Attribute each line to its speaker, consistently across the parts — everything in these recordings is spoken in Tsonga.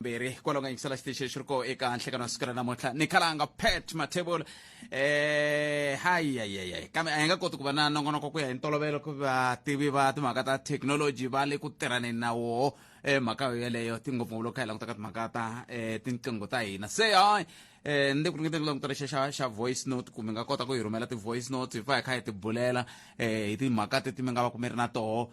Speaker 1: mbirhi hikwalaho nga yingisela xitichi lexi ri koho eka nhlekano wa siku ra namuntlha ni khalanga pat mathebula um eh, hayiyayiyayi kambe a hi nga koti ku va na nongonoko ku ya hi ntolovelo ku vativi va timhaka ta thekinoloji va le ku tirhaneni na woho um eh, mhaka yo yeleyo tingopfu ngopfu loko kha hi languta ka timhaka ta um tinqingho ta hina se hayi eh ni ku ringeta ku languta lexi xa xa voice note kumbe nga kota ku yi rhumela ti-voice note hi fa hi kha hi ti bulela eh hi timhaka teti mi nga va ku mi ri na toho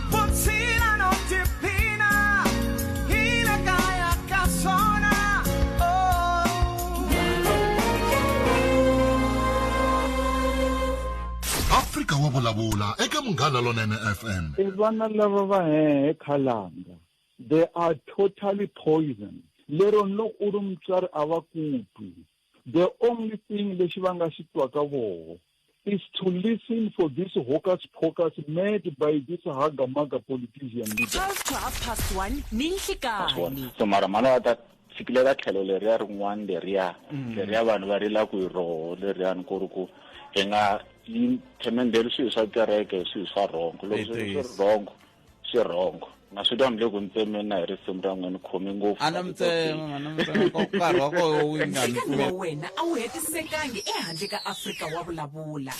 Speaker 2: afrika wa vulavula eka munghana lonene fm i vana lava va
Speaker 3: hehe khalanga they are totally poison lero loko u ri mutswari a va kutwi the only thing lexi va nga xi twaka voho is to listen for this hocus pocus mad by this hagamaga politician leader. 12 to half past 1
Speaker 4: ninhlikani so mara mhana wa ta
Speaker 5: fikile ka tlhelo leriya rin'wana leriya mm. leriya vanhu va rila ku hi roho leriyani ku ri ku hi nga yi themendeli swilo swa kereke hi swilo swa rhongo loko swilo swi ri rhongo swirhongo na swi twa ni le ku ntsemeni na hi risimu ra n'we ni khome ngopfu ana mitsema ana mitsema
Speaker 1: ko nkarhi wa koho wu nga ni wa wena
Speaker 4: a wu hetisekangi ehandle ka afrika wa vulavula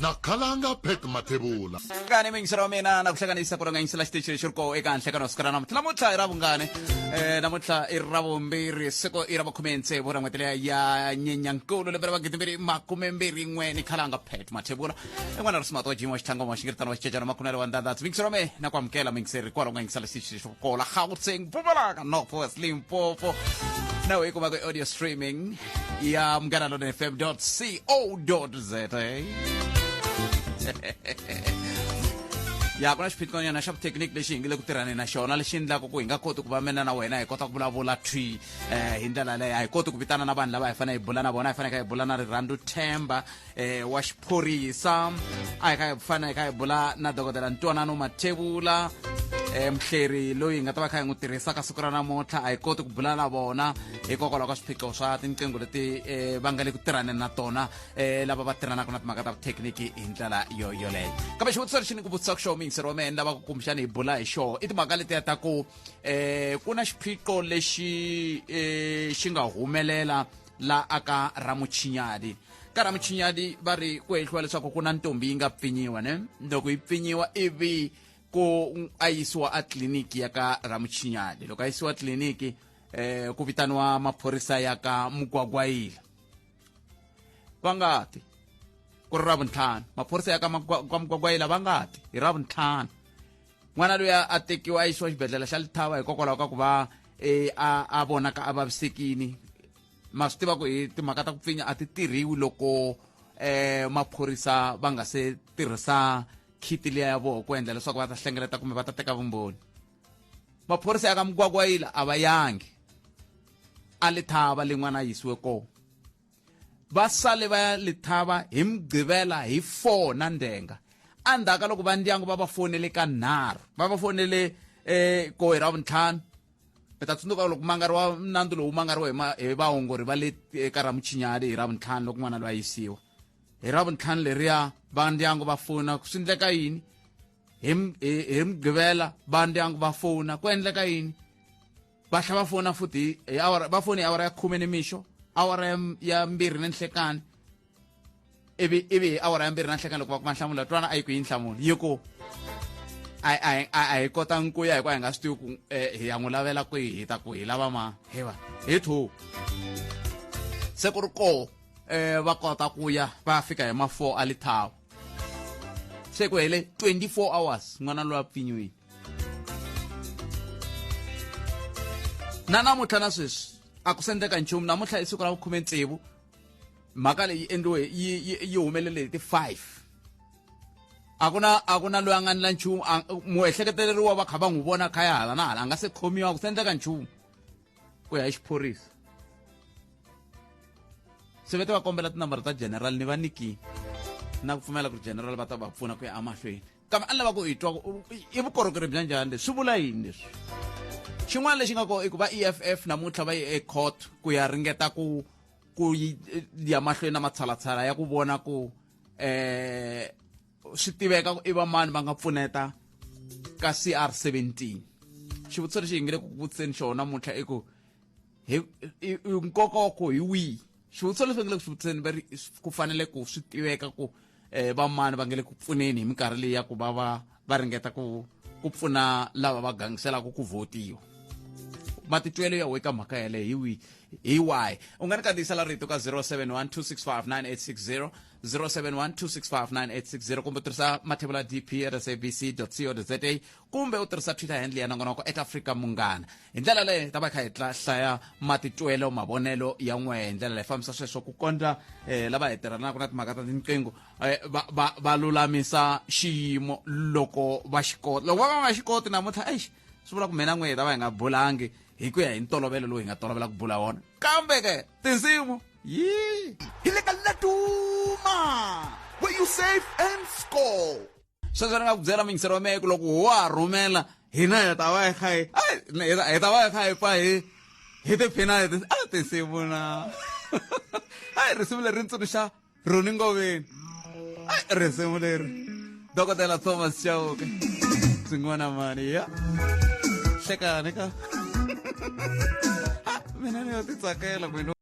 Speaker 4: na khalanga
Speaker 2: pet mathebula vungane mingisi ra
Speaker 1: mina na ku hlanganisa ku ranganyisela xitichi lexi ri koho eka handle ka na siku ra namuntlha namuntlha i ra vungane um namuntlha i ra vumbirhi siku i ra makhume ntsevu ra n'hwetele ya nyenyankulu lembe ra magidi mbirhi makume mbirhi n'we ni khalanga pet mathebula en'wana ri simato jimo xitlhango mo xingiritano xicecana makhume ri wandandhatsi mikisero me na ku amukela mingiseri kwala ku nga yingisela xixi xo kola gauteng pumalaka north west limpopo nawu yi kumaka audio streaming ya munghana lona fm co za ya ku na xiphiqonyana xa vuthekiniki lexi hi nge le ku tirhani na xona lexi endlaka ku hi nga koti ku va mina na wena hi kota ku vulavula thwi um hi ndlela leyo a hi koti ku vitana na vanhu lava hi fanele hi bula na vona hi faneke hi bula na rirhandzu themba eh, wa xiphorisa a hi ka hi fana hi ka hi bula na dokodela ntwanano mathevula eh, muhleri loyi hi nga ta va kha hi n'wi tirhisaka siku ra namuntlha a hi koti ku bula na vona hikokwalaho ka swiphiqo swa tinqingho leti eh, va nga le ku tirhaneni na tona eh, lava va tirhanaka na timhaka ta vuthekiniki hi ndlela yo yoleyo kambe xivutiso lexi ni ku vutisaka xoho muyingiseri wa mehe ni lava ku kumbexana hi bula hi xoho i timhaka letiya ta ku eh, ku na xiphiqo lexi eh, xi nga humelela la aka ramuchinyadi ka ramuchinyadi va ri ku hehliwa leswaku ku na ntombi yi nga pfinyiwa ne loko yi pfinyiwa ivi ku a yisiwa a tliliniki ya ka ramuchinyadi loko a yisiwa tliliniki eh, ku vitaniwa maphorisa ya ka mugwagwayila va nga ti ku ri ravuntlhanu maphorisa ya ka mugwagwayila va nga ti hi ravuntlhanu n'wana loyi a tekiwa a yisiwa xibedhlele xa lithava hikokwalaho ka ku va um a a vonaka a vavisekini ma swi tiva ku hi timhaka ta ku pfinya a ti tirhiwi loko um maphorisa va nga se tirhisa khiti liya ya vona ku endla leswaku va ta hlengeleta kumbe va ta teka vumbhoni maphorisa ya ka mugwagwayila a va yangi a lithava lin'wana a yisiwe kona va sale va ya lithava hi mugqivela hi 4 na ndenga endzhaku ka loko va ndyangu va va fonele ka nharhu va va fonele um eh, kohi ra vuntlhanu mi ta tsundzuka loko mangari wa nandzu lowu mangariwe hi vaongori va le eka ra muchinyali hi ra vuntlhanu loko n'wana loyi a yisiwa hi ra vuntlhanu leriya va ndyangu va fona ku swi endleka yini hi mugqivela va ndyangu va fona ku endleka yini va tlhela va fona futhi hi awara va foni hi awara ya khume ni mixo awara ya, ya mbirhi ni nhlekani ivi ivi hi awara ya mbirhi na nhlekani loko va kuma nhlamulo twana a yi ku yi nhlamulo yi ku a hi kotanga ku ya hikuva hi nga swi tivi ku um hi ya n'wi lavela kwihi hi ta ku hi lava ma hi va hi two se ku ri koo um eh, va kota ku ya va fika hi ma four a lithawa se ku hele 24 hours n'wana loyi a pfinyiwini na namuntlha na sweswi a ku sendeka nchumu namuntlha i siku ra vukhume ntsevu mhaka leyi endliwe yi yi yi humelele hi ti five a ku na a ku na loyi a nga ni la nchumu a- muehleketeleriwa va kha va n'wi vona khaya hala na hala a nga se khomiwa a ku sendeka nchumu ku ya hi xiphorisa se vete va kombela tinambara ta general ni va niki na ku pfumela ku ri general va ta va pfuna ku ya emahlweni kambe a ni lava ku hi twa ku i vukorhokeri bya njhani leswi swi vula yini leswi xin'wana lexi nga kona i ku va eff namuntlha va ye ecourt ku ya ringeta ku ku yi ya mahlweni na matshalatshala ya ku vona ku eh swi tiveka ku i va mani va nga pfuneta ka CR17 xivutiso lexi hi nge le ku vutiseni xona namuntlha i ku hi i- i- nkoka wa ko hi wihi xivutiso leswi va nge le ku swi vutiseni va ri s- ku fanele ku swi tiveka ku um vamani va nge le ku pfuneni hi minkarhi leyi ya ku va va va ringeta ku ku pfuna lava va gangiselaka ku votiwa matitwelo ya weka mhaka yaleyo hi wihi hi wahi u nga ni kandziyisela rito ka 0712659860 0712659860 kumbe tirhisa mathebula dp at sabc co za kumbe u tirhisa twitter handle ya nongonoko eka afrika munghana hi ndlela leyi ta va kha hi hlaya matitwelo mavonelo ya n'we hi ndlela leyi fambisa sweswo ku kondla um lava hi tirhanaka na timhaka ta tinqingho eh, va lulamisa xiyimo loko va xi kota loko va va nga xi koti namuntlha exi swi vula ku mina n'we hi ta va hi nga bulangi hi ku ya hi ntolovelo lowu hi nga tolovela ku bula wona kambe ke tinsimu yii hi le ka laduma where you save and score sweswo ni nga ku byela mingisero mehe ku loko ho wa rhumela hina hi ta va hi kha hi hi ta va hi kha hi pfa hi hi tiphina hi a tinsimu na hayi risimu leri ri tsundzuxa roni ngoveni risimu leri dokodela thomas chauke swin'wana mani ya hlekani ka mina ni yo titsakela mina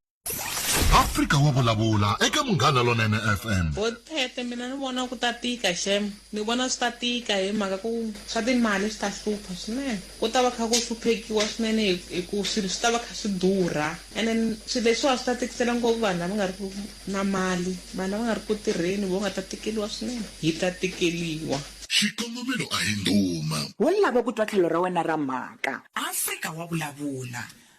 Speaker 1: afrika
Speaker 2: wa vulavula eka munghana lonene fm bothete mina ni
Speaker 6: vona ku ta tika xem ni vona swi ta tika hi mhaka ku swa timali swi ta hlupha swinene ku ta va kha ku hluphekiwa swinene hi- hi ku swilo swi ta va kha swi durha and then swilo leswiwa swi ta tikisela ngopfu vanhu lava nga ri ku na mali vanhu lava nga ri ku tirheni vo nga ta tikeliwa swinene hi ta tikeliwa xikongomelo
Speaker 2: a hi ndhuma Wo lava ku twa tlhelo
Speaker 4: ra wena ra mhaka. Afrika wa vulavula.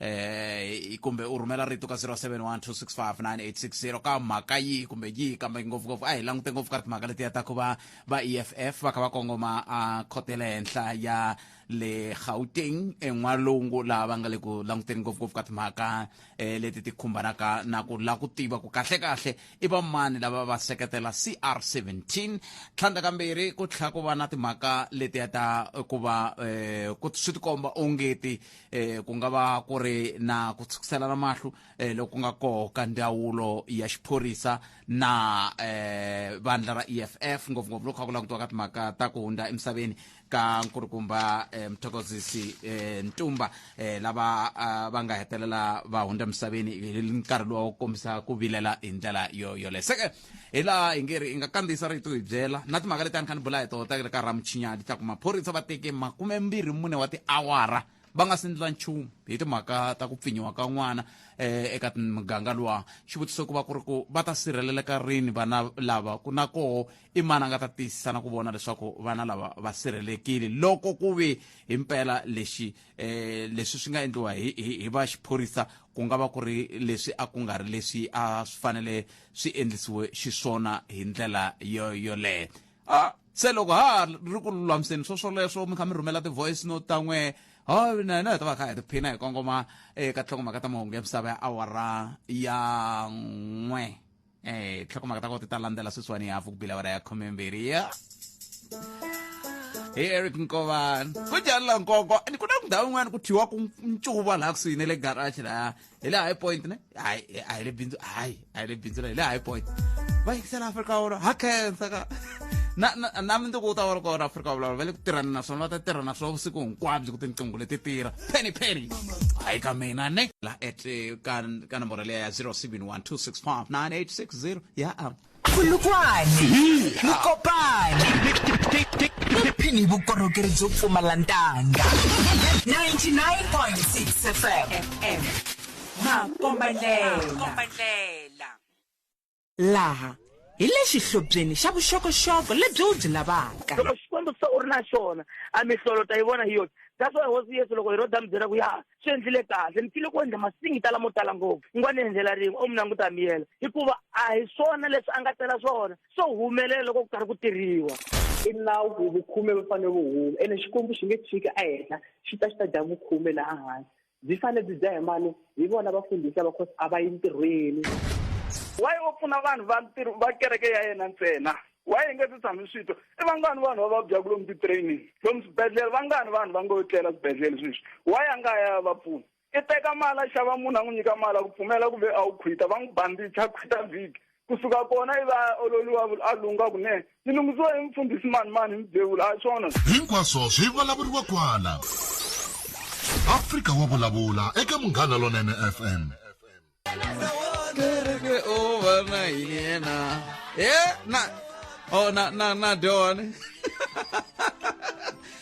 Speaker 1: eh kumbe u rhumela rito ka 0712659860 ka mhaka yihi kumbe yihi kambe ngopfungopfu a hi langute ngopfu ka timhaka letiya ta ku va va eff va kha va kongoma a khote le henhla ya le gauteng en'walungu laha va nga le ku languteni ngopfungopfu ka timhaka um leti ti khumbanaka na ku la ku tiva ku kahlekahle i va mani lava va seketela cr 17 tlhandla kambirhi ku tlhela ku va na timhaka letiya ta ku va um swi tikomba ongeti eh ku nga va ku ri na ku tshukiselana mahlo eh loku nga koho ka ndzawulo ya xiphorisa na eh vandla ra EFF ngopfungopfu loko kha ku langutiwa ka timhaka ta ku hundza emisaveni ka nkulukumba eh, mthokozisi eh, ntumba eh, lava ah, va nga hetelela va hundza emisaveni hi nkarhi lowu kombisa ku vilela hi ndlela yo yoleyo se hi laha hi nge ri hi nga kandziyisa rito hi byela na timhaka leti a ni kha ni bula hi tona ta ka ramuchinyani ta ku maphorisa va teke makume mbirhi mune wa tiawara va nga si ndla nchumu hi timhaka ta ku pfinyiwa ka n'wana um eka muganga luwa xivutiso ku va ku ri ku va ta sirheleleka rini vana lava ku na koho i mani a nga ta tiyisisa na ku vona leswaku vana lava va sirhelelekile loko ku ve hi mpela lexi eh leswi swi nga endliwa hi hi va xiphorisa ku nga va ku ri leswi a ku nga ri leswi a swi fanele swi endlisiwe xiswona hi ndlela yo yoleyo a se loko ha ri ku lulamiseni swo swoleswo mi kha mi rhumela ti-voice note ta n'we ho na hina hi ta va kha hi tiphina hi kongoma eka eh, tlhongomhaka ta mahungu ya misava ya awara ya n'we eh tlhokomaka ta go teta landela seswane ya fo pila ya khomemberi ya hi eric nkovani ku jalela nkoko and ku na ndhawu yin'wana ku thyiwa ku ncuva laha kusuhi ne le garage laha hi le high point ne hayi a hi le bindzu hayi a hi le bindzu la hi le high point va yingisela afrika wolo ha khensa ka na na na mundzuku u ta va ri kona afrika wa vulavula va le ku tirhani na swona va ta tirha na swo vusiku hinkwabyo ku tinqingho leti tirha penny penny hayi ka mina ne la at eh, ka ka nomboro leya ya 0712659860 ya am khulukwane
Speaker 7: nikopane tiphini hi vukorhokeri byo pfumala ntanga 99.6 fm makombandlela laha hi le xihlobyeni xa vuxokoxoko lebyi wu byi lavaka loko xikwembu se u ri na
Speaker 8: xona a mihlolo ta yi vona hi yoxe that's why hosi yesu loko heroda mi byela ku ya swi endlile kahle mi file ku endla masingi tala mo tala ngopfu ni nga ni endlela rin'we o mi languta mi yela hikuva a hi swona leswi a nga tela swona swo humelela loko ku karhi ku tirhiwa i nawu
Speaker 9: ku vukhume va fanele vu huma ene xikwembu xi nge tshiki a hehla xi ta xi ta dya vukhume laha hansi byi fanele byi dya hi mani hi vona vafundhisi lava cause a va yi ntirhweni wayi
Speaker 3: wo pfuna vanhu va ntirho va kereke ya yena ntsena wayi hi nge ti tshami swito i vangani vanhu va vabyaku lomu ti-training lomu swibedhlele vangani vanhu va ngo tlela swibedhlele sweswi wayi a nga ya ya va pfuna i teka mali a xava munhu a n'wi nyika mali a ku pfumela ku ve a wu khwita va n'wi bandicha khwita vhiki Ku suka kona i va a ololiwa vula a lungha kunene. Ni lunghisiwe hi mufundhisi mani-mani hi Mubevula, a hi swona? Hinkwaswo swi
Speaker 2: vulavuriwa kwala. Afrika wa vulavula eka Munghana Lonene FM. Kereke
Speaker 1: o va na yena. He na oh na na na Don.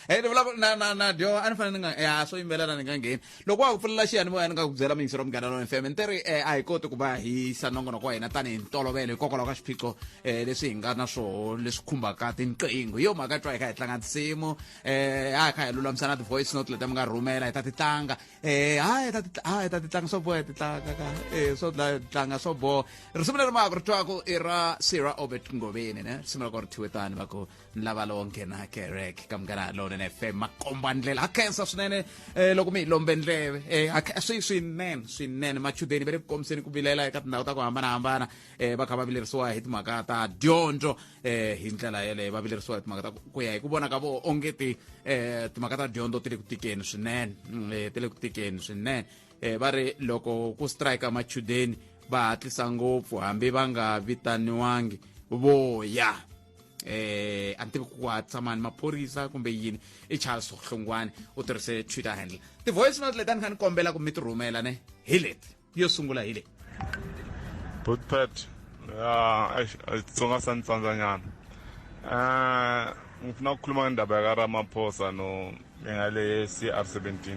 Speaker 1: Hey ni vulavula na na na Don a ni fanele ni nga ya swo yimbelela ni nga ngheni. loko wa ku pfulela xiyanimoya ni nga ku byela miyingiselo munghana lona fm ni teri um a hi koti ku va hi yisa nongonoko wa hina tanihi ntolovelo hikokwalaho ka swiphiqo um leswi hi nga na swoho leswi khumbaka tinqingho hi yo mhaka twa hi kha hi tlanga tinsimu um eh, a hi kha hi lulamisa na ti-voice note leti mi nga rhumela hi ta ti tlanga um eh, hayi hi ta ti tlanga swo boha hi ti tlanga ka um swo tlanga swo boha risimu leri maka ri twaku i ra sira obert ngoveni ne risimu ra ko ri thiwe tani va ku lava lowo nghena kereke ka munghana lowunene f m makombandlela ha khensa swinene um loko mi hi lombe ndleve um swi swinene swinene machudeni va le ku kombiseni ku vilela eka tindhawu ta ku hambanahambana um va kha va vilerisiwa hi timhaka ta dyondzo um hi ndlela yeleyo va vilerisiwa hi timhaka ta ku ya hi ku vona ka vo ongeti um timhaka ta dyondzo ti le ku tikeni swinene um ti le ku tikeni swinene um va ri loko ku strike machudeni va hatlisa ngopfu hambi va nga vitaniwangi voya eh a ni tivi ku hatsa mani maphorisa kumbe yini i charles hlongwane u tirhise twitter handle ti-voice note leti a ni kha ni kombela ku mi ti rhumela ne hi leti yo sungula hi leti
Speaker 10: botpet ya xitsonga sa ni tsandzanyana um ngipfuna ku khuluma ndaba ya ka ramaphosa no ya le cr 17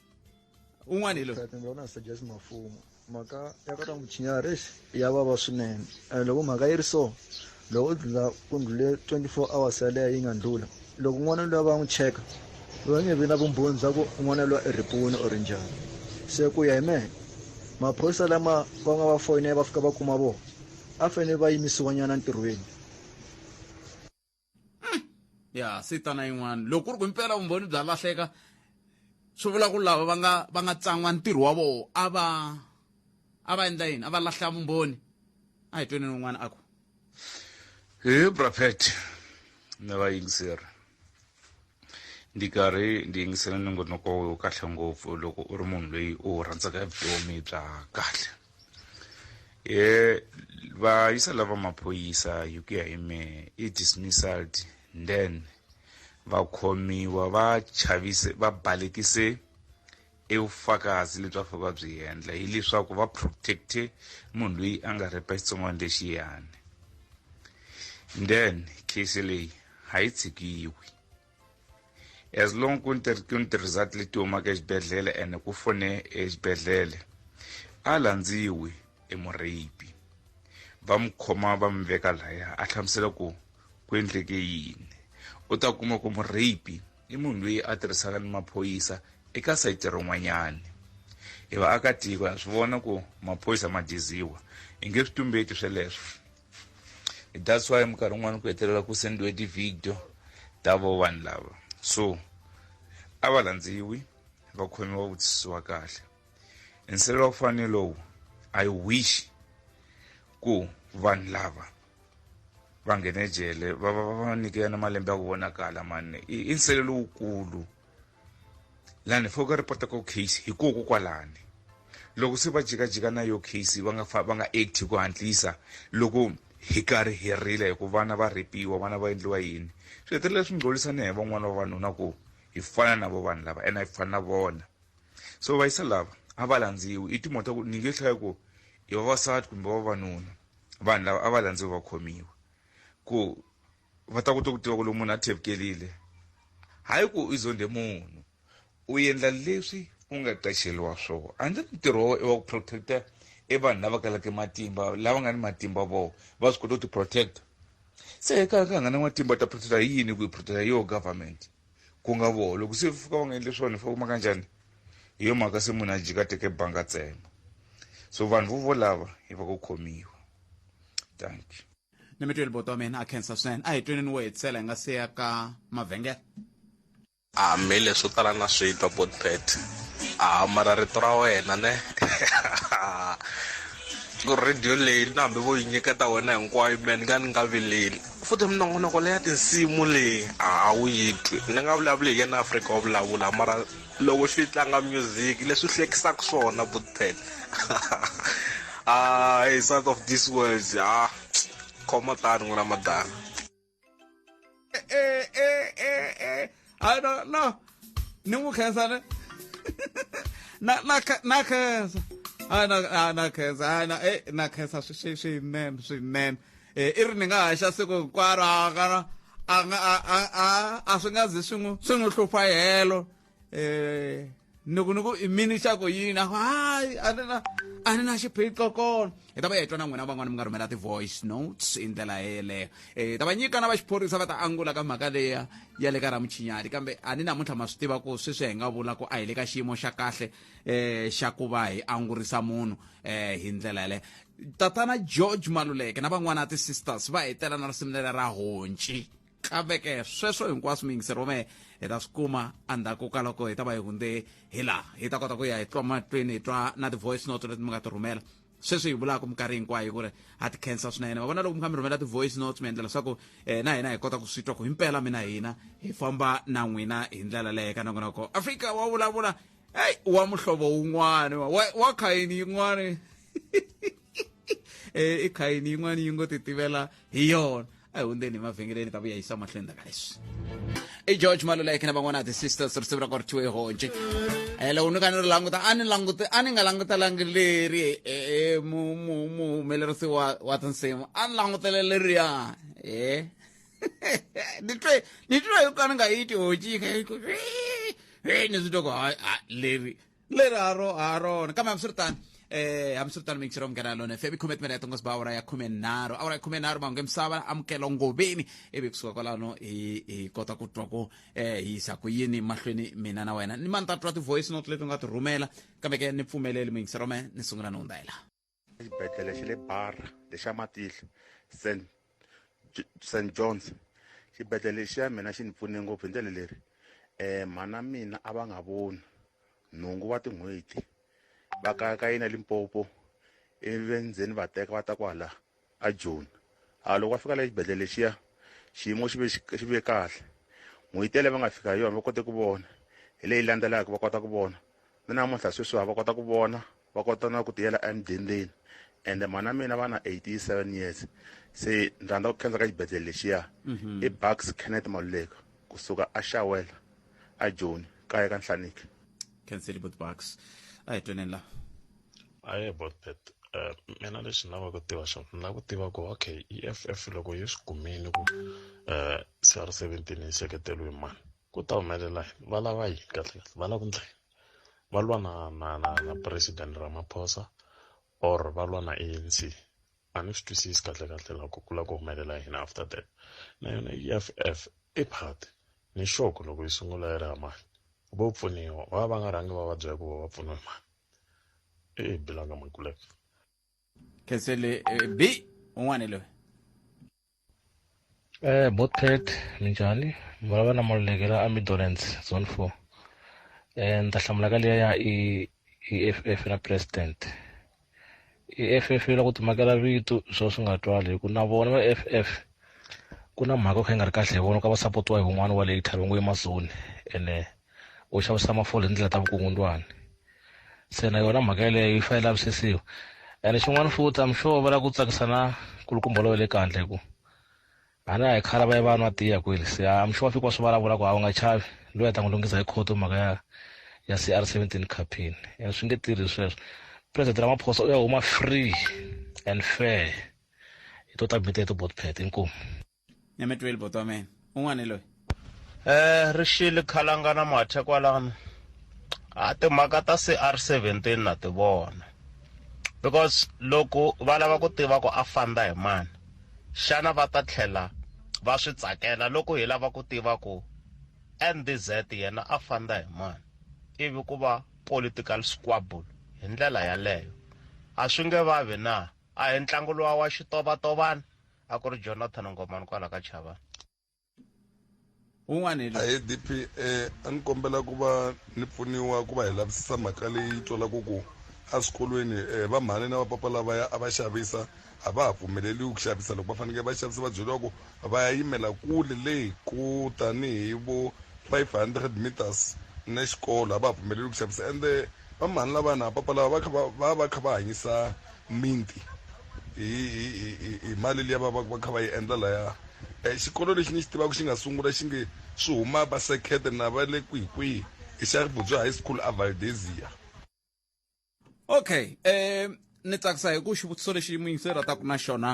Speaker 1: un'wana hi loyi na suggest mafumo
Speaker 11: mhaka ya ka muchinyari exi ya vava swinene and loko mhaka yi ri so loko u dlula ku ndlule 24 hours yaleyo yi nga ndlula loko n'wana luya va n'wi cheka va nge vi na vumbhoni bya ku n'wana luya i ripuni or njhani se ku ya hi mehe maphorisa lama va nga va foyinele va fika va kuma vona a fanele va yimisiwanyana ntirhweni
Speaker 1: ya sitana yin'wana loko ku ri ku impela vumbhoni bya lahleka swi vula ku lava va nga va nga tsan'wa ntirho wa vona a va a va endla yini a va lahla vumbhoni a hi tweni n'wana a ku hi braphet
Speaker 12: na vayingiseri ndi karhi ndi yingisela nongonoko wo kahle ngopfu loko u ri munhu loyi u rhandzaka vutomi bya kahle e va yisa lava maphorisa hi ku ya hi mehe i dismissed then va khomiwa va chavise va balekise evufakazi lebyi va fa va byi endla hileswaku va protecte munhu loyi a nga repa xitsongwana lexiyani then case leyi a yi tshikiwi as long ku ni ku ni ti-result leti humaka exibedhlele ene ku fone exibedhlele a landziwi emurheyipi va mu khoma va mi veka laya a hlamusela ku ku endleke yini u ta kuma ku murheyipi i munhu loyi a tirhisaka ni maphoyisa eka sayiti rin'wanyani hi vaakatiko ha swi vona ku maphoyisa ma diziwa hi nge swi tumbeti sweleswo that's why minkarhi yin'wana ku hetelela ku sendiwe ti-video ta vo vanhu lava so a va landziwi va khomiwa vutisisiwa kahle nsilela ku fana lowu i wish ku vanhu lava va nghene jele va va va va nyikela na malembe ya ku vonakala mani i nsilela lowukulu lani fo ka repota ko case hi koko kwalani loko se va jikajika na yo case va nga fa va nga act hi ku hantlisa loko hi karhi hi rila hi ku vana va rhepiwa vana va endliwa yini swi hetelela swi ngcolisa ni hi van'wana vavanuna ku hi fana na vo vanhu lava ene hi fana na vona so vayisa lava a va landziwi i timhaka ta ku ni nge hlaya ku i vavasati kumbe vavanuna vanhu lava a va landziwi va khomiwa ku va ta kota ku tiva ku loko munhu a thevkelile hayi ku i zonde munhu u endla leswi u nga qexeliwa swona a ndzi ntirho wa i wa ku protecta i vanhu lava kalaka matimba lava nga ni matimba vo va swi kota ku ti-protecta se eka ka nga na matimba ta protecta hi yini ku yi protecta hi yoho government ku nga voho loko se fika va nga endli swona fa kuma ka njhani hi yo mhaka se munhu a jika teke banga tsema so vanhu vo volava hi va ku khomiwa thank you ni mitweli boto wa
Speaker 1: mina a khensa swinene a hi tweneni wo hetisela hi nga se ya ka mavhengele
Speaker 13: hambi leswo tala na swi twa botpet a mara rito ra wena ne ku radio leyi na hambi vo yi nyiketa wena hinkwayo mina ni nga ni nga vileli futhi minongonoko leya tinsimu leyi a wu yi twi ni nga vulavuli hi yena afrika wa vulavula mara loko xi tlanga music leswi hlekisaka swona butpen ah hey south of this world ah khoma tani n'wina madana eh eh eh
Speaker 1: eh i don't know ni n'wi khensa ne na na na khensa a na na khensa a na eh na khensa swinene swinene e, i ri ni nga haxa siku hinkwaro a nga a nga a a swi nga zi swi n'wi swi n'wi hlupha helo um ni ku ni ku i mini xa ku yini a ku hayi a ni na a ni na xiphiqo kona hi ta va hi twa na n'wina van'wana mi nga rhumela ti-voice notes hi ndlela yeleyo um ta va nyika na va xiphorisa va ta angula ka mhaka leya ya le ka ramuchinyati kambe a ni namuntlha ma swi tiva ku sweswi hi nga vula ku a hi le ka xiyimo xa kahle eh xa ku va hi angurisa munhu eh hi ndlela yale tatana george maluleke na van'wana ti-sisters va hetela na risimu leri ra honci kambe-ke sweswo hinkwaswo muyingiseri wa mehe hi ta swi kuma endzhaku ka loko hi ta va hi hundze hi laha hi ta kota ku ya hi twa matweni hi twa na ti-voice note leti mi nga ti rhumela sweswi hi vulaka minkarhi hinkwayo ku ri ha ti khensa swinene va vona loko mi kha mi rhumela ti-voice notes mi endlela leswaku um na hina hi kota ku swi twa ku himpela mina hina hi famba na n'wina hi ndlela leyi ka nakona ko afrika wa vulavula heyi wa muhlovo wun'wani wa khayini yin'wani um i khayini yin'wani yi ngo ti tivela hi yona ehundzeni emavhengeleni ta vuya yisa mahlweni taka leswi i george maluleke na van'wana the sisters risimu ra kwaritiwe honje Eh, loko ni ka ni ri languta a ni languta a ni nga langutelangi leri eh, eh, mu- mu- muhumelerisi wa wa tinsimu a ni langutele leriya e ni twe ni twe yo ka ni nga yi ti honji yi kha yi ku ni swi twa ku hayi hayi leri leri ha ro ha rona kambe hambiswiritano eh hambiswiritano mixer omngena lona fm ikhume timene ya tongosi ba awara ya khume nharhu awara ya khume nharhu mahungu emisava amukelo ngoveni ivi kusuka kwalano hi hi kota ku twa ku eh hi yisa ku yini mahlweni mina na wena ni mani ta twa ti-voice note leti u nga ti rhumela kambe ke ni pfumeleli mixer ome ni sungula ni hundzayela exibedhlele xa le
Speaker 14: barra lexa matihlo st st johns xibedhlele lexi ya mina xi ni pfune ngopfu hi ndlela leri um mhana mina a va nga voni nhungu wa tin'hweti va kayakayina limpopo ivi endzeni va teka va ta kwala a joni a loko va fika la exibedhlele lexiya xiyimo xi ve xi ve kahle n'hweti yaleyo va nga fika hi yona va kote ku vona hi leyi landzelaka va kota ku vona ni namuntlha sweswiwa va kota ku vona va kota na ku tiyela emudendeni ende mhana mina va na 87 years se ni rhandza ku khensa ka xibedhlele lexiya mhm. i bucks kenneth maluleka kusuka a xawela a joni kaya ka nhlaniki khenselibut
Speaker 1: bucks a hi tweneni la aye
Speaker 15: botbet um mina lexi ni lava ku tiva xona ni lava ku tiva ku okay e f f loko yi swi kumile ku um c r seventeen yi seketeliwe mani ku ta humelela yini va lava yini kahle kahle va lava ku ndla yini va lwa na na na na president ramaphosa or va lwa na a n c a ni swi twisisi kahle kahle loko ku lava ku humelela yini after that na yona e f f i party ni sure ku loko yi sungula yi ri ha mani vo pfuniwa va va nga rhangi va va byela ku va va pfuniwe mani e bela nga makulek
Speaker 1: kesele eh, b un'wana loyi
Speaker 16: Eh, Botpet, minjhani? Vulavula na Maluleke la Amidolence, Zone 4. Eh, ni ta hlamula ka liya ya i EFF na President. EFF yi la ku timakela vito swo swi nga twali hi ku na vona va EFF ku na mhaka yo kha yi nga ri kahle hi vona ka va sapotiwa hi wun'wana wa later va ngo i masoni ene u xavisa mafole hi ndlela ta vukungundwani se na yona mhaka yeleyo yi fanele lavisisiwa ene xin'wana futhi am sure va lava ku tsakisa na kulukumba lowu le kandle hi ku a na hi khala va ye va nwa tiya kweli se am sure fika wa swi vulavula ku a wu nga chavi loyi a ta n'wi lunghisa hi khoto mhaka ya ya c r seventeen campaign and swi nge tirhi sweswo president ramaphosa u ya huma free and fair hi to ta bita hi to botpet inkomu nyame twel
Speaker 1: botwa men un'wana loyi eh ri
Speaker 17: xile khalangana mathe kwalano a timhaka ta cr 17 na ti vona because loko va lava ku tiva ku a fanda hi mani xana va ta tlhela va swi tsakela loko hi lava ku tiva ku ndz yena a fanda hi mani ivi ku va political squabble hi ndlela yaleyo a swi nge vavi na a hi ntlangu lowa wa xitovatovana a ku ri jonathan ngomani kwala ka chava
Speaker 1: un'wana hi loyi adp eh,
Speaker 18: a ni kombela ku va ni pfuniwa ku va hi lavisisa mhaka leyi twalaka ku eswikolweni eh, va mhani na vapapa lavaya a va xavisa a va ha pfumeleriwi ku xavisa loko va fanekele va xavisa va byeriwa ku va ya yimela kule leyi ku tanihi vo 500 meters na xikolo a va ha pfumeleriwi ku xavisa ende va mhani lavana papa lava va kha va va va kha va hanyisa mimiti hi hi hi hi mali liya va va va kha va yi endla laya um xikolo lexi ni xi tivaka xi nga sungula xi nge swi huma va sekhete na va le kwihikwihi i xa ribudzo high school a valdesia okay
Speaker 1: um ni tsakisa hi ku xivutiso lexi muyingiseri a taku na xona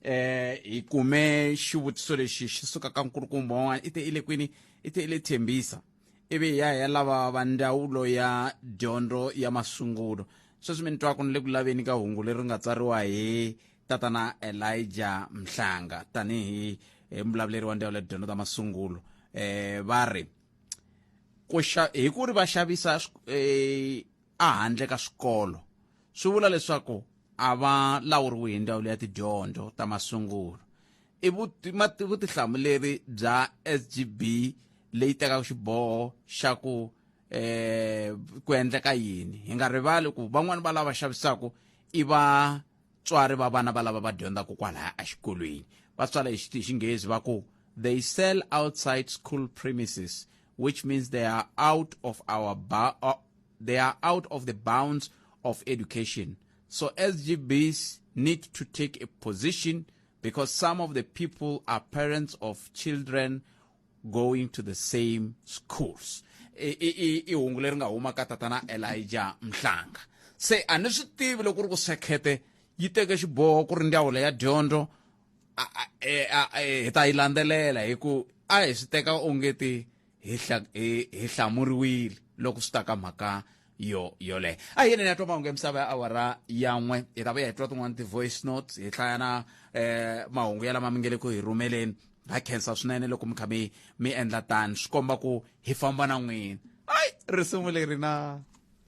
Speaker 1: um hi kume xivutiso lexi xi suka ka nkulukumba wan'wana i te i le kwini i te i le thembisa ivi hi ya hi ya lava va ndzawulo ya dyondzo ya masungulo sweswi mi ni twaka ni le ku laveni ka hungu leri nga tsariwa hi tatana elija mhlanga tanihi eh, mulavuleri wa ndzawulo ya dyondzo ta masungulo um va ri ku xa- hi ku ri va xavisa swi- eh, a handle ka swikolo swi vula leswaku a va lawuriwi hi ndzawulo ya tidyondzo ta masungulo i vutihlamuleri bya sgb leyi tekaka xiboho xa ku eh ku endleka yini hi nga rivali ku van'wani va lava xavisaka i va tswari va vana va lava va dyondzaka kwalaya exikolweni va tswala hi xinghezi va ku they sell outside school premises which means they are out of our they are out of the bounds of education. So SGBs need to take a position because some of the people are parents of children going to the same schools. I- i- i- i hungu leri nga huma ka tatana Elijah Mhlanga. Se a ni swi tivi loko ku ri ku sekhete yi teke xiboho ku ri ndzawulo ya dyondzo a- a- e- a- e- hi ta yi landzelela hi ku a hi swi teka onge ti hi hi hlamuriwile loko swi ta ka mhaka yo yoleyo a yini ya twa mahungu ya misava ya awara yan'we hi ta vuya hi twa tin'wana ti-voice notes hi hlaya na eh mahungu ya lama mi nge le ku hi rhumeleni ha khensa swinene loko mi kha mi mi endla tani swi komba ku hi famba na n'wina ayi risimu leri na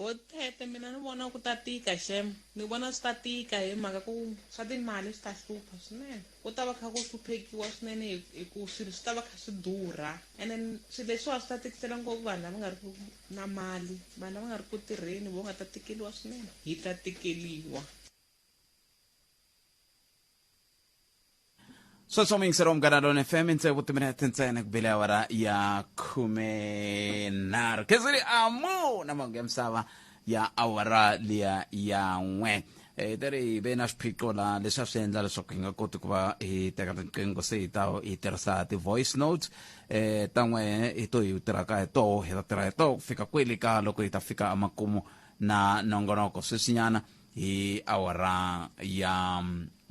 Speaker 6: Bo Tete mina ni vona ku ta tika xem ni vona swi ta tika hi mhaka ku swa timali swi ta hlupha swinene ku ta va kha ku hluphekiwa swinene hi hi ku swilo swi ta va kha swi durha and then swilo leswiwa swi ta tikisela ngopfu vanhu lava nga ri ku na mali vanhu lava nga ri ku tirheni vo nga ta tikeliwa swinene hi ta tikeliwa
Speaker 1: sweswo muyingiseri wa mugana lona fm intsevu timinete ntsena ku bile awara ya khume nharhu kheziri amu na mahungu ya misava ya awara liya ya n'we Eh, te ri hi ve na swiphiqo la leswi a swi endla leswaku hi nga koti ku va hi teka riqingho se hi ta hi tirhisa ti-voice notes eh ta n'we hi to hi tirhaka hi toho hi ta tirha hi toho ku fika kwele ka loko hi ta fika emakumu na nongonoko sweswinyana hi awara ya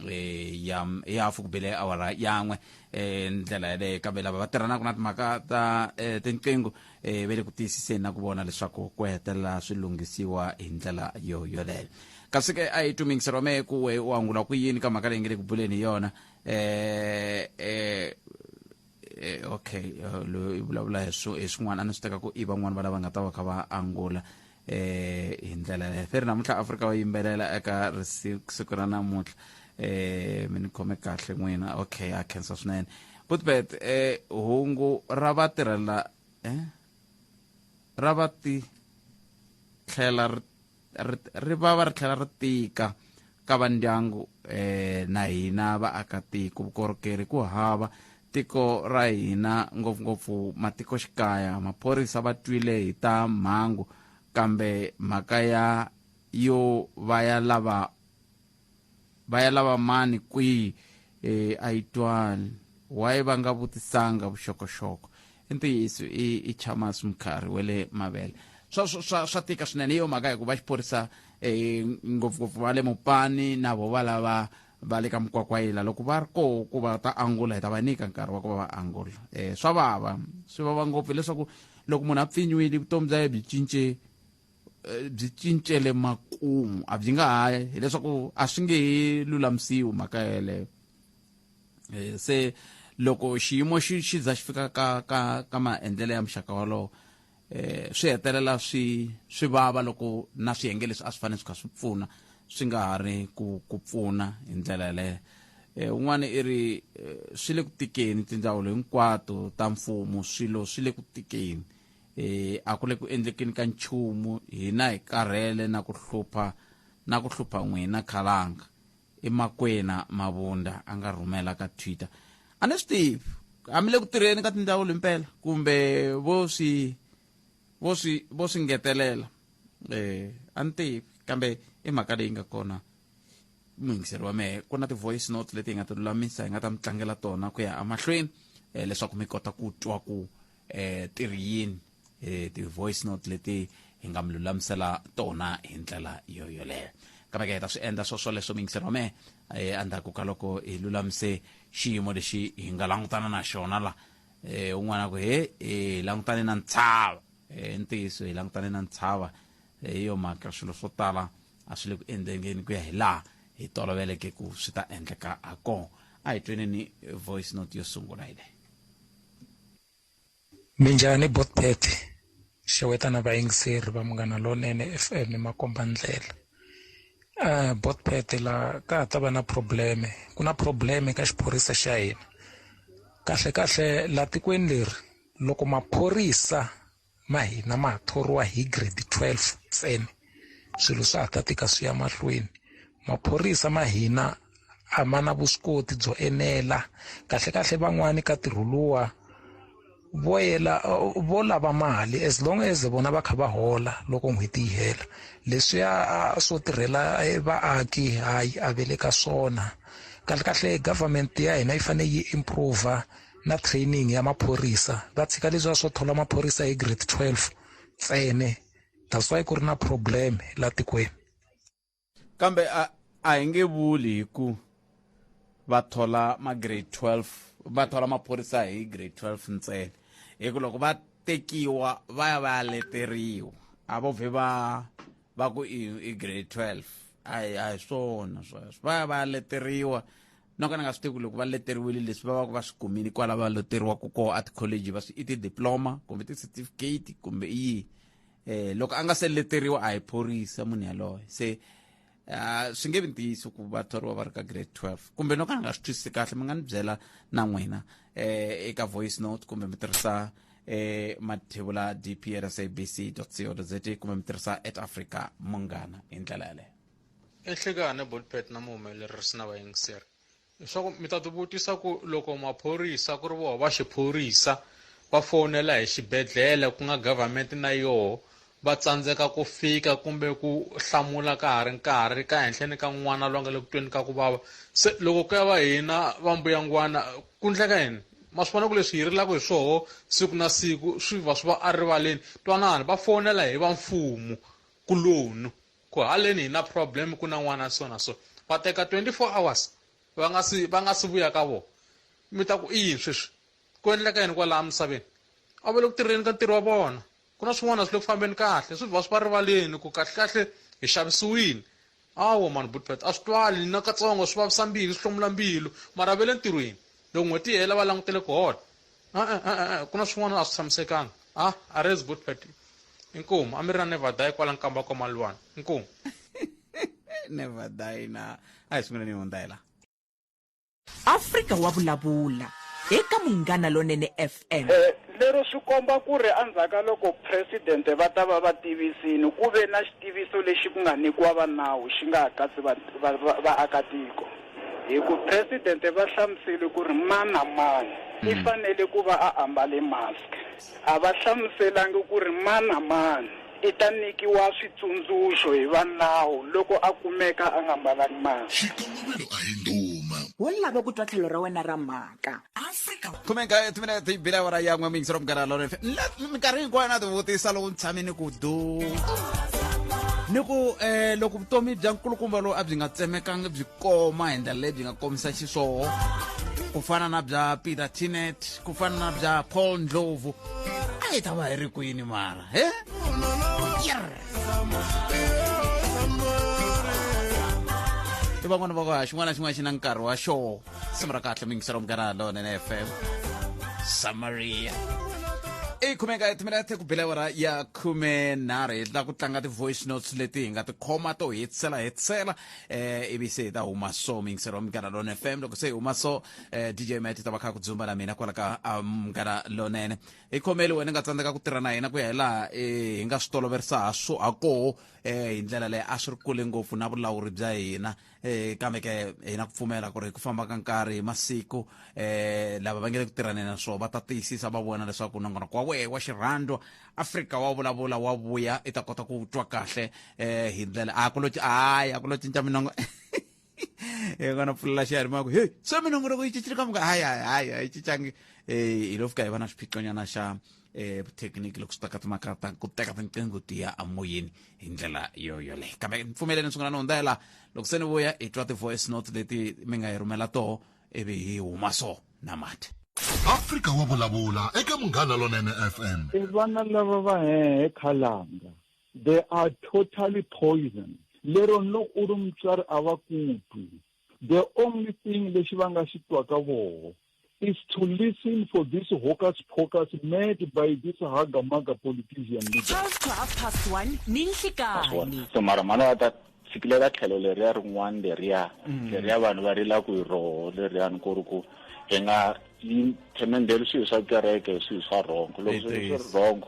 Speaker 1: eh, ya ya hafu ku bile awara yan'we eh, ndlela yaleyo kambe lava va tirhanaka na timhaka ta eh, tinqingho eh, ve le ku tiyisiseni na ku vona leswaku ku hetelela swi lunghisiwa hi ndlela yo yoleyo kasi ke a hi tumingiseriwa me ku we u angula ku yini ka mhaka leyi nge le ku buleni hi yona eh, eh, Eh, okay eh, loyi u vulavula hi swo- hi swin'wana a ni swi teka ku i van'wani va lava nga ta va kha va angula eh hi ndlela yaleyo feri namuntlha afrika va yimbelela eka risi- siku ra namuntlha eh mi ni khome kahle n'wina okay a khensa swinene butbet eh hungu ra vatirhela eh ra vati tlhela ri ri ri va va ri tlhela ri tika ka va ndyangu um na hina vaakatiko vukorhokeri ku hava tiko ra hina ngopfungopfu matikoxikaya maphorisa va twile hi ta mhangu kambe mhaka ya yo va ya lava va ya lava mani kwihi e, a yi twani waye va nga vutisanga vuxokoxoko i ntiyiso i, i chamas mukharhi wa le mavele swa, swa, swa tika swinene hi yo mhaka hikuva xiphorisa e, ngopfungopfu va le mupani na vo va lava va le ka mukwakwayila loko va ri koho ku va ta angula hi ta va nyika nkarhi wa ku va va angula um swa vava swi vava ngopfu hileswaku loko munhu a pfinyiwile vutomi bya ye byi cince eh, byi cincele makumu a byi nga ha hileswaku a swi nge he lulamisiwi mhaka yeleyo eh, se loko xiyimo xi xi za xi fika ka ka ka maendlelo ya muxaka wolowo eh swi hetelela swi swi vava loko na swiyenge leswi a swi fanele swi kha swi pfuna swi nga ha ri ku ku pfuna hi ndlela yaleyo eh un'wana i ri eh, swi le ku tikeni tindzawulo hinkwato ta mfumo swilo swi le ku tikeni e, a ku le ku endlekeni ka nchumu hina hi karhele na ku hlupha na ku hlupha n'wina khalanga i makwena mavunda a nga rhumela ka twitter a ni swi tivi a mi le ku tirheni ka tindzawulo impela kumbe vo swi vo swi vo swi ngetelela um a ni tivi kambe i mhaka leyi nga kona muyingiseri wa mehe ku na ti-voice note leti hi nga ti lulamisa hi nga ta mi tlangela tona ku ya emahlweni um leswaku mi kota ku twa ku eh ti ri yini eh ti voice note leti hi nga mi lulamisela tona hi ndlela yo yoleyo kambe ke hi ta swi endla swo swoleswo mingiseri wa mehe eh, endzhaku ka loko hi lulamise xiyimo lexi hi nga langutana na xona la eh un'wana ku he eh, hi langutane na ntshava eh, i ntiyiso hi langutane na ntshava eh, hi yo mhaka swilo swo tala a swi le ku endlengeni ku ya hi laha hi toloveleke ku swi ta endleka ha kona a hi tweneni voice note yo sungula hi leyi
Speaker 19: Minjhani bot Betty xeweta na vayingiseri va munghana lonene FM makomba ndlela uh, bot Betty la ka ha ta va na probleme ku na probleme ka xiphorisa xa hina kahle kahle la tikweni leri loko maphorisa ma hina ma ha thoriwa hi grade 12 ntsena swilo swa ha ta tika swi ya mahlweni maphorisa ma hina a ma na vuswikoti byo enela kahlekahle van'wani ka ntirho luwa vo yela vo lava mali as long as vona va kha va hola loko n'hweti yi hela leswiya swo tirhela e, vaaki hayi a ve le ka swona kahlekahle government ya hina yi fanele yi improve na training ya maphorisa va tshika leswiya swo thola maphorisa hi grade 12 ntsene that's why ku ri na problem la tikweni
Speaker 1: kambe a a hi nge vuli hi ku va thola ma grade 12 va thola maphorisa hi grade 12 ntsene hi ku loko va tekiwa va ya va ya leteriwa a vo vhe va va ku i grade 12 a hi swona sweswo va ya va ya leteriwa no ka ni nga swi tivi ku loko va leteriwile leswi va va ku va swi kumile kwala va leteriwaka koho a tikholeji va swi i tidiploma kumbe ti-certificate kumbe i yihi um loko a nga se leteriwa a hi phorisa munhu yaloye se um swi nge vi ntiyiso ku va thoriwa va ri ka grade twelve kumbe no ka ni nga swi twisisi kahle mi nga ni byela na n'wina um eka voice note kumbe mi tirhisa eh mathebula dprsabc co za kumbe mi tirhisa at africa munghana hi ndlela yaleyo enhlekani
Speaker 20: bolpet na muhumelerisi na vayingiseri leswaku mi ta tivutisa ku loko maphorisa ku ri voho va xiphorisa va fowunela hi xibedhlele ku nga government na yoho va tsandzeka ku fika kumbe ku hlamula ka ha ri nkarhi ka henhleni ka n'wana loyi nga le kutweni ka ku vava se loko ku ya va hina va mbuyangwana ku ndleka yini ma swi vona ku leswi hi rilaka hi swoho siku na siku swi va swi va erivaleni twanani va fowunela hi va mfumo kuloni Ku haleni hina problem ku na n'wana so na so. Va teka 24 hours va nga si va nga si vuya ka vona. Mi ta ku i yini sweswi? Ku endleka yini kwalaha misaveni? A va le ku tirheni ka ntirho wa vona. Ku na swin'wana a swi le ku fambeni kahle. Swi va swi va rivaleni ku kahlekahle hi xavisiwini. Hawa mhani buti Pat a swi twali ni na katsongo swi vavisa mbilu swi hlomula mbilu mara va le ntirhweni. Loko n'hweti yi hela va langutele ku hola. E-e, ah, e-e, ah, ah, ku na swin'wana a swi tshamisekanga a a ri good party inkomu a mi ri na nevadayi kwala nkamba kwa malwana inkomu
Speaker 1: nevadayi na a hi sunguleni yi hundza hi laha
Speaker 7: afrika wa vulavula eka munghana lonene fm eh, lero swi
Speaker 21: komba ku ri endzhaku ka loko presidente va ta va va tivisini ku ve na xitiviso lexi ku nga nyikiwa va nawu xi nga ha katsi vaakatiko va, va, va Hi ku Presidente va hlamusele ku ri mani na mani i fanele ku va a ambale mask. A va hlamuselangi ku ri mani na mani i ta nyikiwa switsundzuxo hi va nawu loko a kumeka a nga mbalanga mask. Xikongomelo a hi
Speaker 2: ndhuma. Wo lava ku twa
Speaker 7: tlhelo ra wena ra mhaka. afrika khumeka
Speaker 1: timina ti bila awara ya n'we mingisi ra munghana lona FM. Na- minkarhi hinkwayo na tivutisa loko ni tshame ni ku du ni ku eh loko vutomi bya nkulukumba lowu a byi nga tsemekanga byi koma hi ndlela leyi byi nga komisa xiswona ku fana na bya peter tinet ku fana na bya paul ndlovu a yi ta va hi ri kwini mara he Yerr. i van'wana va ku ha xin'wana na xin'wana xi na nkarhi wa xona risimu ra kahle mingiselo munghana lonene fm samaria i khumeka timinete ku bile awara ya khume nharhu hi tla ku tlanga ti-voice notes leti hi nga ti khoma to hetisela hetisela eh ivi se hi ta huma so mingiselo wa munghana lone fm loko se hi huma so eh dj mat ta va kha ku dzumba na mina kwala ka ah, munghana lonene hi khomeli wena nga tsandzeka ku tirha na hina ku ya hi laha eh, hi nga swi toloverisa ha swo ha koho eh hi ndlela leyi a swi ri kule ngopfu na vulawuri bya hina eh kambe ke hi na ku pfumela ku ri ku famba ka nkarhi hi masiku eh lava va nge le ku tirhaneni na swona va ta tiyisisa va vona leswaku nongonoko wa wehe wa xirhandwa afrika wa vulavula wa vuya i ta kota ku twa kahle eh hi ndlela a ku lo hayi a ku lo cinca minongo hi kona pfulela xiyarimaka heyi se minongonoko yi cincile ka muka hayi hayi hayi a yi cincangi um hi lo fika hi va na swiphiqonyana xa eh technique loko swi ta ka timhaka ta ku teka tinqingho ti ya amoyeni hi ndlela yo yoleyo kambe mpfumeleni ni sungula ni hundzela loko se ni vuya hi twa ti-voice note leti mi nga hi rhumela toho ivi hi huma so na mati afrika wa
Speaker 2: vulavula eka munghana lonene fm i vana lava
Speaker 3: va hehe khalanga they are totally poison lero loko u ri mutswari a va kutwi the only thing lexi va nga xi twaka voho is to listen for this hocus pocus mad by this hagamaga politician leader. to half past
Speaker 7: one ni nhlikani so mara mhana va
Speaker 5: ta fikile ka tlhelo leriya rin'wana leriya mm. leriya vanhu va rila ku hi roho leriyani ku ri ku hi nga themendeli swilo swa kereke hi swilo swa rhongo loko swilo swi ri rhongo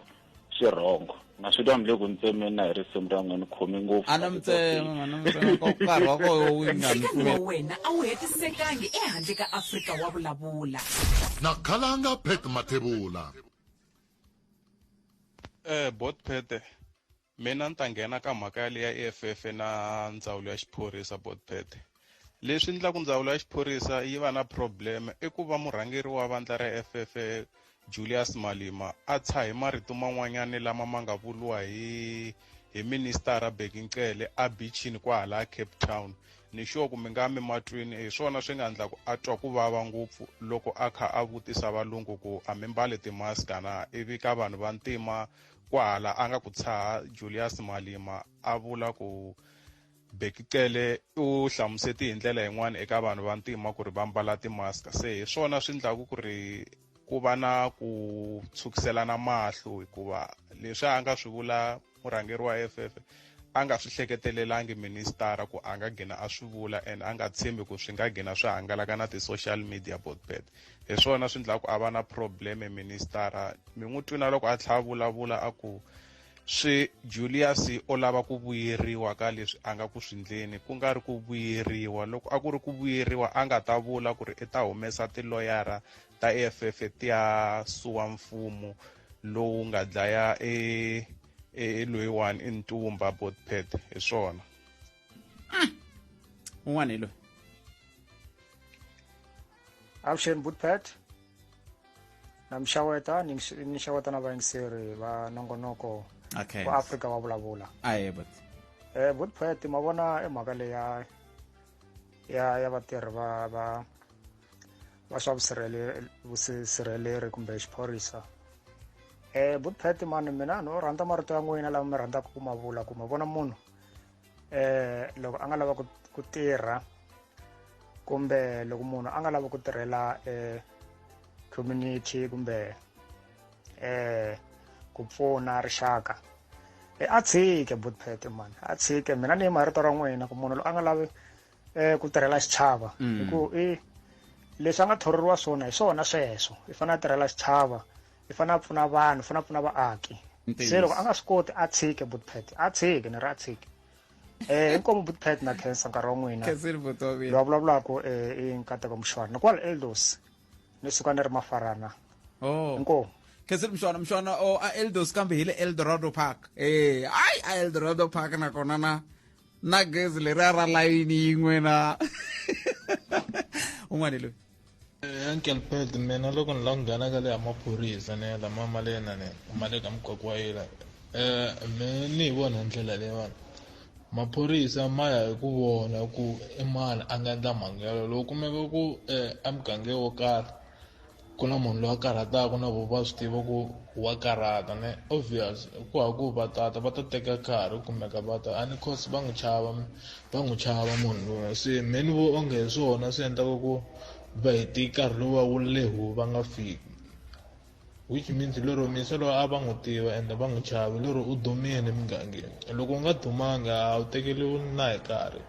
Speaker 5: swirhongo na swi twa ni le ku ni tsemeni na hi risimu ra n'we ni khome ngopfu a na mi tsema n'wana mi tsema
Speaker 1: ko nkarhi wa koho wu nga mi ntirho wa wena a wu
Speaker 4: hetisekangi ehandle ka afrika wa vulavula na
Speaker 2: khalanga pet mathebula
Speaker 10: Eh bot Pete mina ni ta nghena ka mhaka ya leya EFF na ndzawulo ya xiphorisa bot Pete Leswi endlaku ndzawulo ya xiphorisa yi va na problem i ku va murhangeri wa vandla ra FF Julius Malima a tsha hi marito man'wanyana lama ma nga vuriwa hi hi ministara Bheki Ncele a bichini kwahala Cape Town ni sure ku mi nga mi matwini hi swona swi nga endlaku a twa ku vava ngopfu loko a kha a vutisa valungu ku a mi mbale timaska na ivi ka vanhu va ntima kwahala a nga ku tshaha Julius Malima a vula ku Bheki Cele u hlamuseti hi ndlela yin'wana eka vanhu va ntima ku ri va mbala timaska se hi swona swi ndlaku ku ri ku va na ku tshukiselana mahlo hikuva leswi a nga swi vula murhangeri
Speaker 22: wa FF a nga swi hleketelelanga ministara ku a nga gina a swi vula and a nga tshembi ku swi nga gina swi hangalaka na ti-social media botbet hi swona swi ndlaku a va na probleme ministara mi n'wi twina loko a tlha a vulavula a ku swi Juliyasi o lava ku vuyeriwa ka leswi a nga ku swi ndleni ku nga ri ku vuyeriwa loko a ku ri ku vuyeriwa a nga ta vula ku ri i ta humesa tiloyara ta EFF ti ya suwa mfumo lowu nga dlaya e e, e loyiwani i ntumba botpet hi swona hmm.
Speaker 1: un'wana hi loyi
Speaker 8: avuxeni butpat na mi xaweta ni ni xaweta na vayingiseri va nongonoko okay. wa afrika
Speaker 1: wa vulavula
Speaker 8: aye but
Speaker 1: eh butpat
Speaker 8: ma vona i mhaka leya ya ya vatirhi va va va swa vusirheleri kumbe xiphorisa eh butpat mani mina no rhandza marito ya n'wina lama mi rhandzaka ku ma vula ku ma vona munhu eh loko a nga lava ku tirha kumbe loko munhu a nga lava ku tirhela eh community kumbe eh ku pfuna rixaka e a tshike butpet man a tshike mina ni marito ra n'wina ku munhu loyi a nga lavi eh ku tirhela xichava mm. hi ku i leswi a nga thororiwa swona hi swona sweswo i fanele a tirhela xichava i fanele a pfuna vanhu fanele a pfuna vaaki se loko a nga swi koti a tshike butpet a tshike ni ri a tshike eh inkomo butpet na cancer nkarhi wa n'wina loyi a vulavulaka um eh, i nkateko muxwana ni kwala eldos ni suka ni ri mafarana oh. inkomo khesile mshwana
Speaker 1: mshwana o oh, a eldos kambe hi le eldorado park e hayi a eldorado park nakona na na gezi leri a ra layini yin'we na un'wana loyi Eh, uncle
Speaker 20: ped mina loko ni la ku nghena ka le ya maphorisa ni ya lama mali yena ni ma le ka mukaku wa yena eh, um mi ni hi vona hi ndlela leyiwani maphorisa ma ya hi ku vona ku i mani a nga endla mhangu yalo loko kumeka ku um eh, emugangeni wo karhi ku na munhu loyi a karhataka na vo va swi tiva ku wa karhata ne obvious ku ha ku va tata va ta teka nkarhi kumeka va ta a ni cause va n'wi chava va n'wi chava munhu lowa se me ni vo onge hi swona swi endlaka ku va heti nkarhi lowu va wu lehu va nga fiki which means lero misa loyi a va n'wi tiva ende va n'wi chava lero u dumile emugangeni loko u nga dumanga a wu tekeriwi na hi nkarhi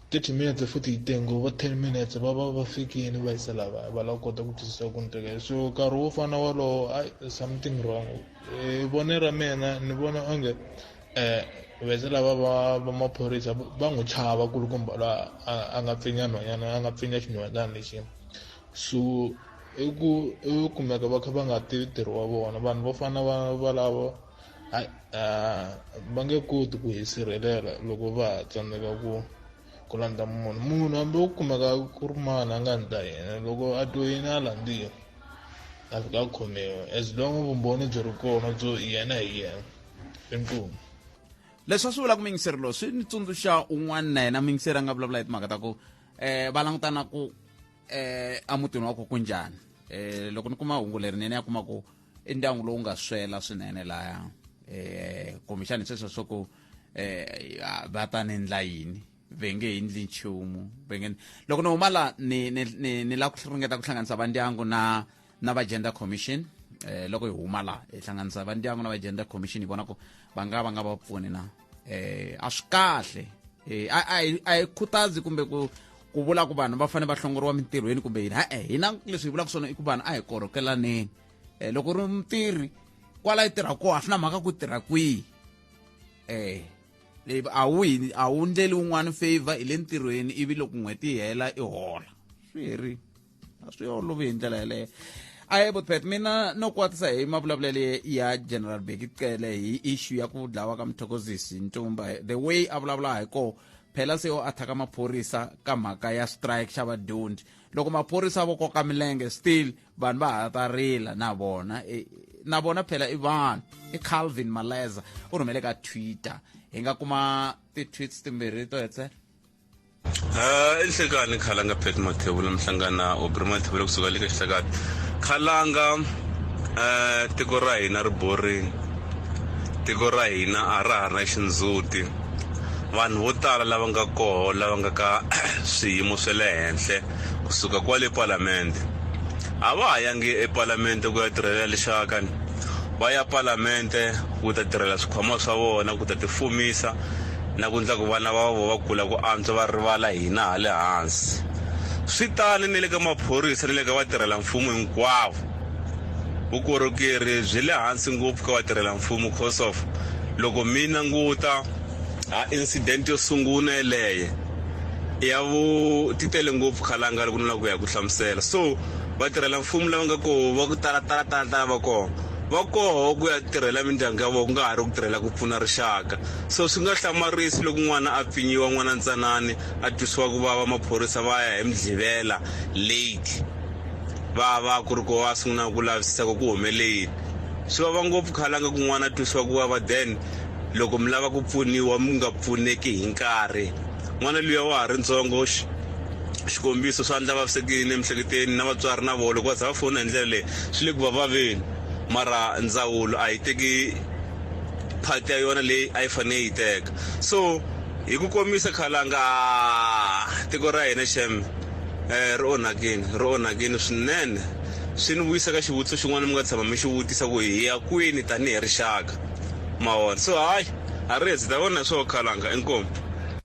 Speaker 20: thirty minutes futhi yi tengo va ten minutes va va va fikile va yisa lava va lava kota ku twisisa ku ni tekela so nkarhi wo fana wolowo ai something wrong hi vonelo ra mina ni vona onge um vese lava va va maphorisa va n'wi chava kulukumba la a nga pfinya nhwanyana a nga pfinya xinhwanyana lexi so i ku i kumeka va kha va nga tivi ntirho wa vona vanhu vo fana va valavo hayi va nge koti ku hi sirhelela loko va ha tsandzeka ku ku landza munhu munhu hambi u kumeka ku ri mani a nga ndla yena loko a twe yini a landziwa a fika a khomiwa as long vumbhoni byi ri kona byo yena hi yena inkomu leswi
Speaker 1: a swi vula ku mingiseri lowu swi ni tsundzuxa un'wana na yena mingiseri a nga vulavula hi timhaka ta ku um va langutana ku um eh, emutini wa ku ku njhani um loko ni kuma hungu lerinene ya kuma ku i ndyangu lowu nga swela swinene laya um eh, kumbexani sweswo swa ku um va ta ni ndla yini ve nge hi ndli nchumu ve nge loko ni huma laha ni ni ni ni lava ku ringeta ku hlanganisa vandyangu na na va gender commission eh, loko hi huma laha hi hlanganisa va ndyangu na va gender commission hi vona ku va nga va nga va pfuni na eh, a swi kahle eh, a hi khutazi kumbe ku ku vula ku vanhu va fanele va hlongoriwa mintirhweni kumbe yini ha-e hina leswi hi vulaka swona i ku vanhu a hi korhokelaneni um loko ri mutirhi kwala yi tirha koho a swi na mhaka ku tirha kwihi um leyi a wu hi a wu ndleli wun'wana favor hi le ntirhweni ivi loko n'hweti yi hela i hola swi herile a swi olovi hi ndlela yeleyo a hi botpet mina no kwatisa hi mavulavulelo ya general beki cele hi issue ya ku dlawa ka muthokozisi ntumba the way a vulavula hi koo phela se o athaka maphorisa ka mhaka ya strike xa vadyondzi loko maphorisa vo koka milenge still vanhu va ha ta rila na vona e, na vona phela i vanhu i calvin maleza u rhumele ka twitter hi nga kuma ti-tweets timbirhi to hetlela Uh, i nhlekani
Speaker 23: khalanga pet mathevula mhlangana obri mathevula kusuka le ka xihlakati khalanga uh, tiko ra hina ri borini tiko ra hina a ra ha ri na xindzhuti vanhu vo tala lava nga koho lava nga ka swiyimo swa le henhle kusuka kwale palamende a va ha yangi epalamende ku ya tirhela lexakani va ya palamende ku ta tirhela swikhwama swa vona ku ta tifumisa na ku endla ku vana va vo va kula ku antswa va rivala hina ha le hansi swi tani ni le ka maphorisa ni le ka vatirhela mfumo hinkwavo vukorhokeri byi le hansi ngopfu ka vatirhela mfumo cause of loko mi languta a incident yo sungula yeleye ya vu ti tele ngopfu khalanga loko ni lava ku ya ku hlamusela so vatirhela mfumo lava nga koho va ku tala tala tala tala va kona va koho ku ya tirhela mindyangu ya vona ku nga ha ri ku tirhela ku pfuna rixaka so swi nga hlamarisi loko n'wana a pfinyiwa n'wana ntsanani a twisiwa ku vava maphorisa va ya hi midlivela late va va ku ri ko va sungula ku lavisisa ku ku humele yini swi vava ngopfu khalanga ku n'wana a twisiwa ku vava then loko mi lava ku pfuniwa mi nga pfuneki hi nkarhi n'wana luya wa ha ri ntsongo xikombiso swa ndla vavisekini emiehleketeni na vatswari na vona loko va za va fona hi ndlela leyi swi le ku va vaveni mara ndzawulo a yi teki part ya yona leyi a yi fanele yi teka so hi ku komisa khalanga tiko ra hina xem eh, ri onhakini ri onhakini swinene swi ni vuyisa ka xivutiso xin'wana mi nga tshama mi xi vutisa ku hi ya kwini tanihi rixaka mawona so hayi a ri hezi ta vona hi swoho khalanga inkomu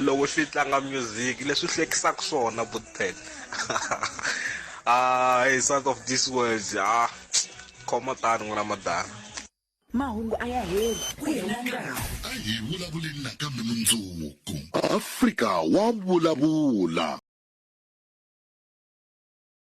Speaker 13: Loko xi tlanga music leswi hlekisaka swona buten hi south of this world ha khoma tani n'wina madana mahungu
Speaker 4: a ya heli ku hela nkarhi a hi vulavuleni
Speaker 2: nakambe mundzuku afrika wa vulavula